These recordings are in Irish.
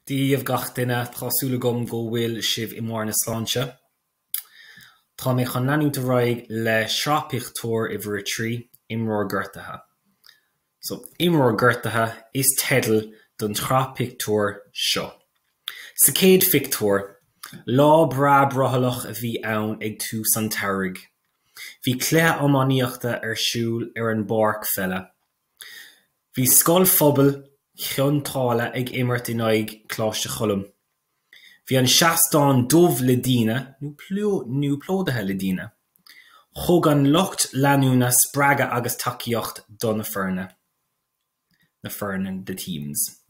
Dia dhaoibh gach duine, tá súil agam go bhfuil sibh i mbarr na sláinte. Tá mé chun leanúint ar aghaidh le sraith pictiúr uimhir a trí, Imreoir Gortaithe. So, Imreoir Gortaithe is teideal don tsraith pictiúr seo. Sa chéad phictiúr, lá breá brothallach a bhí ann ag tús an tsamhraidh. Bhí cluiche iománaíochta ar siúl ar an bpáirc pheile. Bhí Scoil Phobail Chionn tSáile ag imirt in aghaidh Coláiste Choilm. Bhí an seastán dubh le daoine, nó plódaithe le daoine. Thug an lucht leanúna spreagadh agus tacaíocht do na foirne, na foirne, the teams.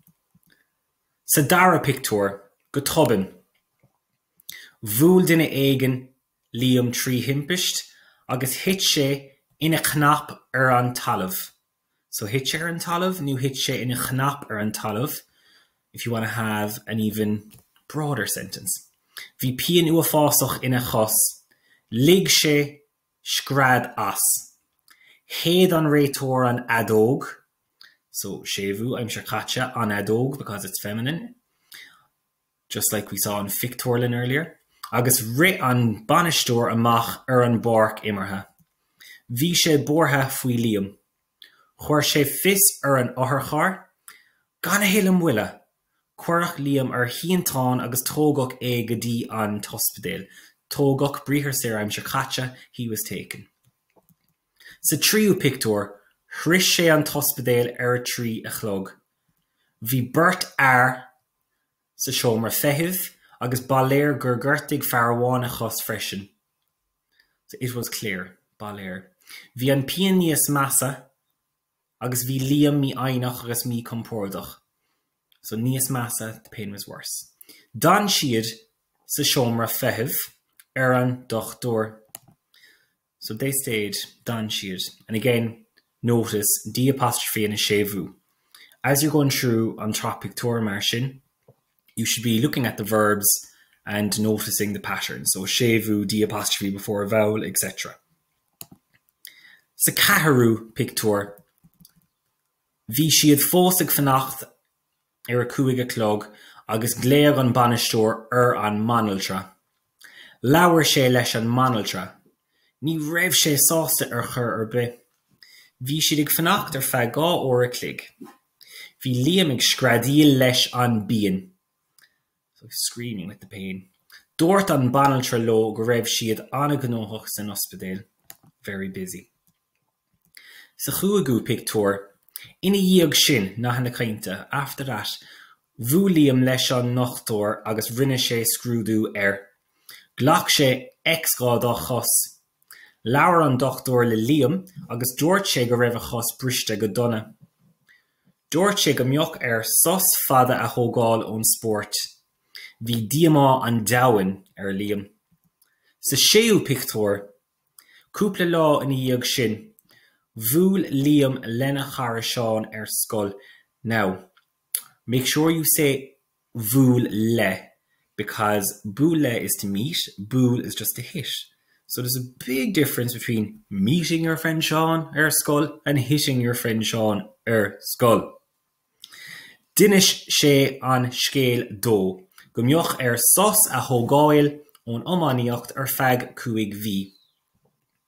Sa dara pictiúr, go tobann, bhuail duine éigin Liam trí thimpist agus thit sé ina chnap ar an talamh. So thit sé ar an talamh nó thit sé ina chnap ar an talamh, if you want to have an even broader sentence. Bhí pian uafásach ina chos. Lig sé scread as. Shéid an réiteoir an fheadóg, so séimhiú, aimsir chaite, an fheadóg because it's feminine. just like we saw an phictiúrlann earlier, agus rith an bainisteoir amach ar an bpáirc imeartha. Bhí sé buartha faoi Liam. Chuir sé fios ar an otharcharr. Gan a thuilleadh moille, cuireadh Liam ar shínteán agus tógadh é go dtí an t-ospidéal. Tógadh, briathar saor aimsir chaite, he was taken. Sa tríú pictiúr, shroich sé an t-ospidéal ar a trí a chlog. Bhí beirt fhear. sa seomra feithimh agus ba léir gur ghortaigh fear amháin a chos freisin. It was clear. Ba léir. Bhí an pian níos measa agus bhí Liam mífhoighneach agus míchompordach. So níos measa, the pain was worse. D'fhan siad sa seomra feithimh ar an dochtúir. So they stayed, d'fhan siad. And again, notice D' apostrophe and a séimhiú. As you're going through an sraith pictiúr mar sin, you should be looking at the verbs and noticing the pattern. So séimhiú, D' apostrophe before a vowel, etc. Sa ceathrú pictiúr, bhí siad fós ag fanacht ar a cúig a chlog agus ghlaoigh an bainisteoir ar an mbanaltra. Labhair sé leis an mbanaltra. Ní raibh sé sásta ar chor ar bith. Bhí siad ag fanacht ar feadh dhá uair a chloig. Bhí Liam ag screadaíl leis an bpian. agus screaming with the pain. Dúirt an banaltra leo go raibh siad an-ghnóthach san ospidéal, very busy. Sa chúigiú pictiúr, Ina dhiaidh sin, nathanna cainte, after that, bhuail Liam leis an ndochtúir agus rinne sé scrúdú air. Ghlac sé X-gha dá chos Labhair an dochtúir le Liam agus dúirt sé go raibh a chos briste go dona. Dúirt sé go mbeadh air sos fada a thógáil ón spórt. Bhí díomá an domhain ar Liam. Sa séú pictiúr. Cúpla lá ina dhiaidh sin, bhuail Liam lena chara Seán ar scoil. Now, make sure you say. bhuail le because buail le is to meet, buail is just to hit. So there's a big difference between meeting your friend Seán ar scoil and hitting your friend Seán ar scoil. D'inis sé an scéal dó go mbeadh air sos a thógáil ón iománaíocht ar feadh cúig mhí.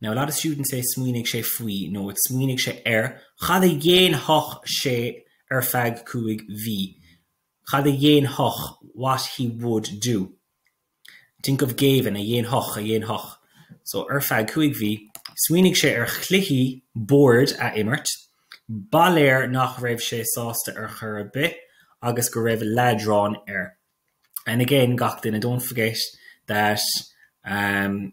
Now a lot of students say smaoinigh sé faoi no it's smaoinigh sé ar cad a dhéanfadh sé ar feadh cúig mhí cad a dhéanfadh what he would do think of géibheann a dhéanfadh a dhéanfadh so ar feadh cúig mhí smaoinigh sé ar chluichí boird a imirt ba léir nach raibh sé sásta ar chor ar bith agus go raibh leadrán air and again gach duine don't forget that um,